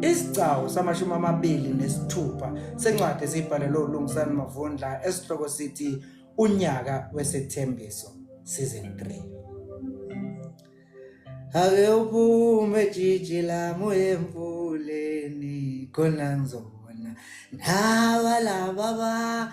Isigcawu samashumi amabili nesithupha sencwadi esiyibhalelwe uLungisani Mavundla esihloko sithi unyaka wesethembiso season 3 Ake uphume jiji lami uyemvuleni khona ngizobona nawa laba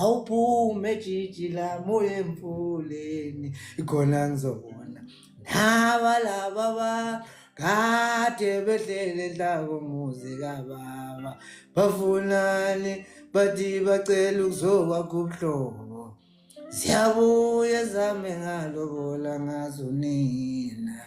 awuphume jijila moya emfuleni khona ngizobona naba laba ba kade behlele enhlako muzi kababa bafunani bathi bacela ukuzokwakho ubuhlobo ziyabuye zame ngalobola ngazo nina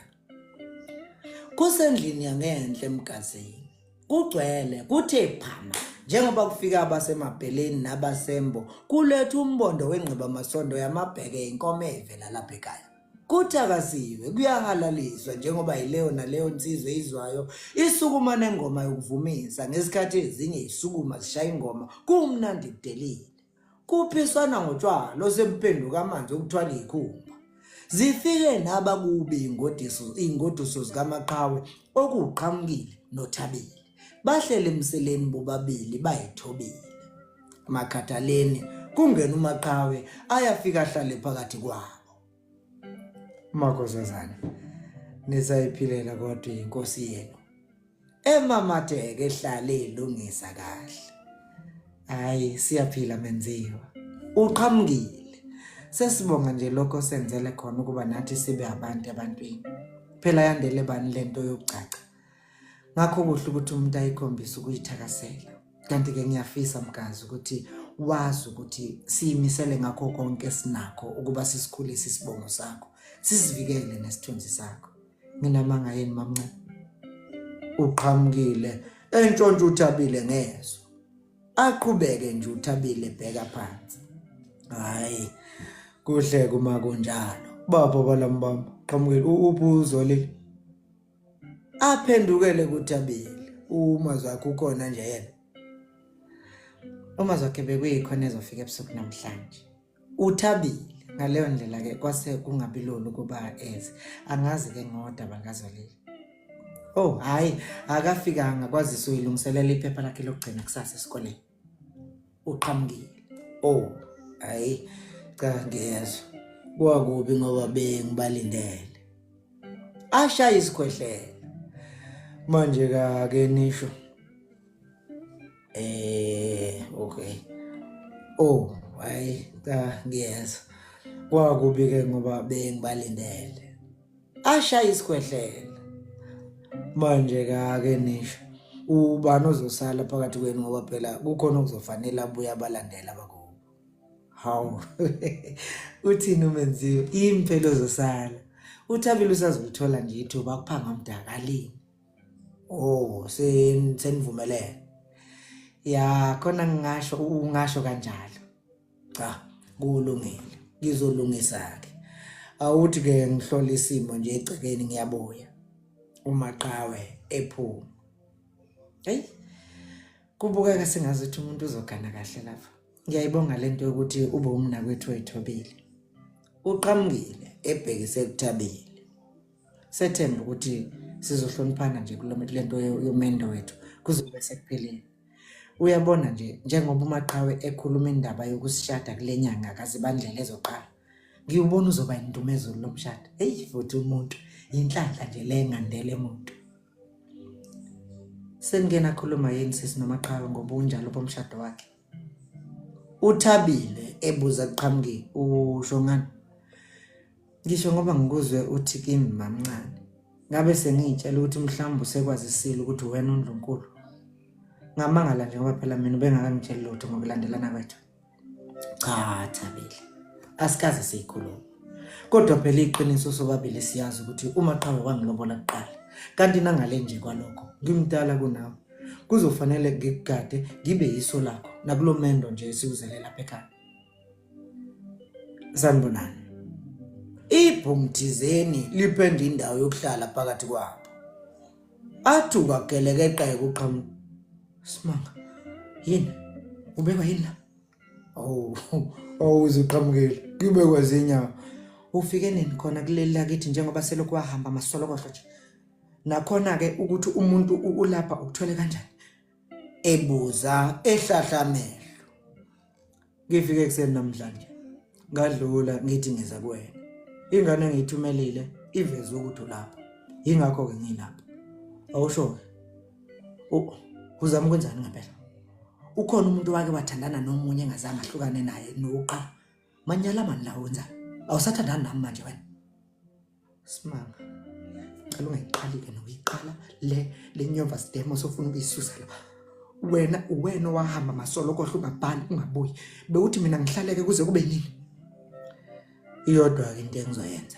kusendlini yangenhle emgazini kugcwele kuthe phama njengoba kufika abasemabheleni nabasembo kuletha umbondo wengqibamasondo yamabheke inkomo evela lapha ekhaya kuthakasiwe kuyahalaliswa njengoba yileyo naleyo nsizwe izwayo isukuma nengoma yokuvumisa ngesikhathi ezinye isukuma zishaya ingoma kumnandi kudelile Kuphiswana ngotshwala osemphenduka amanzi okuthwala ikhulu. zifike naba kubi ingodiso ingoduso zikamaqhawe okuqhamukile nothabile bahlele emseleni bobabili bayithobile makhathaleni kungena umaqhawe ayafika ahlale phakathi kwabo Makozazana nisayiphilela kodwa inkosi yenu emamateke ehlale ilungisa kahle hayi siyaphila menziwa uqhamukile sesibonga nje lokho senzele khona ukuba nathi sibe abantu ebantwini phela yandele bani lento yokugcaca ngakho kuhle ukuthi umuntu ayikhombise ukuyithakasela kanti ke ngiyafisa mgazi ukuthi wazi ukuthi siyimisele ngakho konke sinakho ukuba sisikhulise isibongo sakho sisivikele nesithunzi sakho nginamanga yini mamncane uqhamukile entshontsha uthabile ngezwe aqhubeke nje uthabile bheka phansi hayi kuhle kuma kunjalo baba balamubamba qhamukile uphi uzolile aphendukele kuThabile uma zakho ukhona nje yena uma zakhe bekuyikhona ezofika ebusuku namhlanje uThabile ngaleyo ndlela ke kwase kungabilula ukuba eze angazi ke ngodaba kazolile oh hayi akafikanga kwazise uyilungiselela iphepha lakhe lokugcina kusasa esikoleni uqhamukile oh hayi cha ngiyezwa kwakubi ngoba bengibalindele ashaya isikhwehlela manje ka ke nisho eh okay oh hayi cha ngiyezwa kwakubi ke ngoba bengibalindele ashaya isikhwehlela manje kake nisho ubani ozosala phakathi kwenu ngoba phela kukhona okuzofanele abuye abalandela bakubo hawu uthini umenziwe yini phela ozosala uthabile usazolithola nje ithuba kuphanga umdakalini oh senivumelene ya khona ngingasho ungasho kanjalo cha kulungile ngizolungisa ke awuthi ke ngihlola isimo nje egcekeni ngiyabuya umaqawe ephuma hey kubukeka sengazi ukuthi umuntu uzogana kahle lapha ngiyayibonga lento yokuthi ube umna kwethu ethobile uqhamukile ebhekise ekuthabile sethemba ukuthi sizohloniphana nje kulomento lento yomendo wethu kuzobe sekuphelile Uyabona nje njengoba umaqhawe ekhuluma indaba yokusishada kule nyanga kazibandlela ezoqala ngiwubona uzoba yindumezulu lo mshado eyi futhi umuntu yinhlanhla nje le ngandele muntu sengena khuluma yini sisi nomaqhawe ngoba unjalo bomshado wakhe uthabile ebuza kuqhamuki ushongana Ngisho ngoba ngikuzwe uthi kimi mamncane ngabe sengiyitshela ukuthi mhlawumbe usekwazisile ukuthi wena uNdlunkulu ngamangala nje ngoba phela mina ubengakangitsheli lutho ngokulandelana kwethu cha Thabile asikaze siyikhuluma kodwa phela iqiniso sobabili siyazi ukuthi uma qhawe wangilobola kuqala kanti nangale nje kwalokho ngimdala kunawe kuzofanele ngikugade ngibe yiso lakho nakulomendo nje esiwuzele lapha ekhaya sanibonani ibhungu thizeni lipenda indawo yokuhlala phakathi kwabo athi ungagelekeqeka uqhamu simanga yini ubekwa yini la awu awu uzuqhamukile kubekwa zinyawo ufike nini khona kuleli lakithi njengoba selokhu wahamba masolokohlo nje nakhona-ke ukuthi umuntu ulapha ukuthwele kanjani ebuza ehlahla amehlo ngifike ekuseni namhlanje ngadlula ngithi ngiza kuwena ingane engiyithumelile iveze ukuthi ulapha yingakho ke ngilapha awusho uzama ukwenzani ngempela ukhona umuntu wake wathandana nomunye engazange ahlukane naye nokuqala manyala mani la wenza awusathandani nami manje wena Simanga. Cela ungayiqali ke noyiqala le le nyova sidemo sofuna ukuyisusa la. Wena uwena owahamba masolo kodwa ungabhali ungabuyi. Bewuthi mina ngihlaleke kuze kube nini? Iyodwa ke into engizoyenza.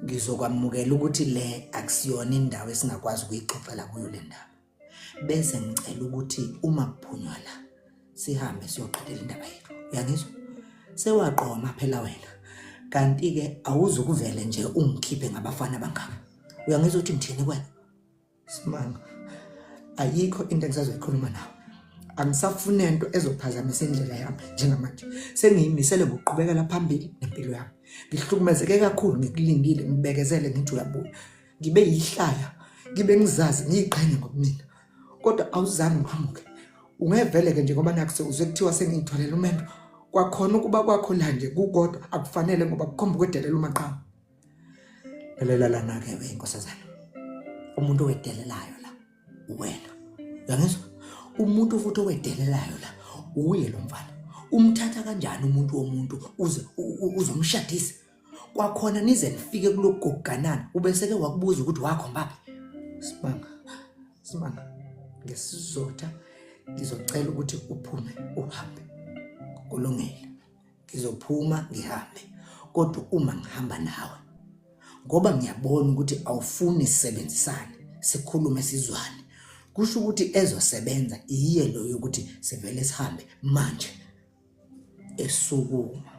Ngizokwamukela ukuthi le akusiyona indawo esingakwazi ukuyixoxela kuyo le ndaba. bese ngicela ukuthi uma kuphunywa la sihambe siyoqedela indaba yethu uyangizwa sewaqoma phela wena kanti-ke awuzukuvele nje ungikhiphe ngabafana bangaka uyangizwa ukuthi ngithini kwena simanga ayikho into engisazoyikhuluma nawe angisafune nto ezophazamisa indlela yami njengamanje sengiyimisele ngokuqhubekela phambili nempilo yami ngihlukumezeke kakhulu ngikulindile ngibekezele ngithi uyabuya ngibe yihlaya ngibe ngizazi ngiyiqhenye ngobumina kodwa awuzange uqhamuke ungevele-ke nje ngoba nakuse uze kuthiwa sengiyithwalela umendo kwakhona ukuba kwakho la nje kukodwa akufanele ngoba kukhomba ukwedelela umaqhamu lalela lana-ke we inkosazana umuntu owedelelayo la uwena uyangizwa umuntu futhi owedelelayo la uye lo mfana umthatha kanjani umuntu womuntu uze uzomshadisa kwakhona nize nifike kulogoganana ubeseke wakubuza ukuthi wakhombaphi simanga simanga ngesizotha ngizocela ukuthi uphume uhambe kulungile ngizophuma ngihambe kodwa uma ngihamba nawe ngoba ngiyabona ukuthi awufuni sisebenzisane sikhulume sizwane kusho ukuthi ezosebenza iyiye lo yokuthi sivele sihambe manje esukuma.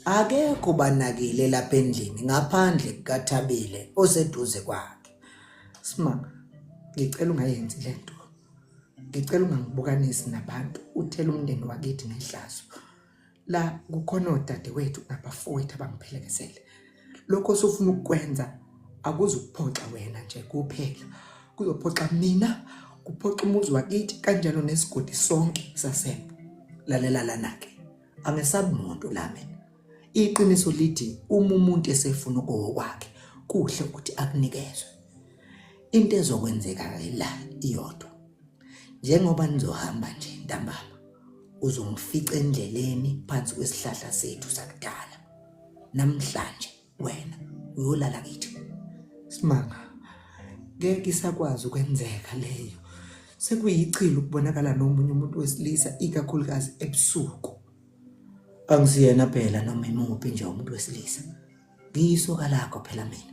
Akekho ubanakile lapha endlini ngaphandle kukaThabile oseduze kwakhe. Sma ngicela ungayenzi lento. Ngicela ungangibukanisi nabantu uthela umndeni wakithi ngehlazo. La kukhona odadewethu nabafowethu abangiphelekezele. lokho osufuna ukukwenza akuzukuphoxa wena nje kuphela kuzophoxa mina kuphoxa umuzi wakithi kanjalo nesigodi sonke sasembo lalela lana-ke angesabi muntu la mina iqiniso lithi uma umuntu esefuna okokwakhe kuhle ukuthi akunikezwe into ezokwenzeka la iyodwa njengoba nizohamba nje ntambama uzongifica endleleni phansi kwesihlahla sethu sakudala namhlanje wena uyolala kithi simanga ngeke isakwazi ukwenzeka leyo sekuyichilo ukubonakala nomunye umuntu wesilisa ikakhulukazi ebusuku angisiyena phela noma imuphi nje umuntu wesilisa ngiyisoka lakho phela mina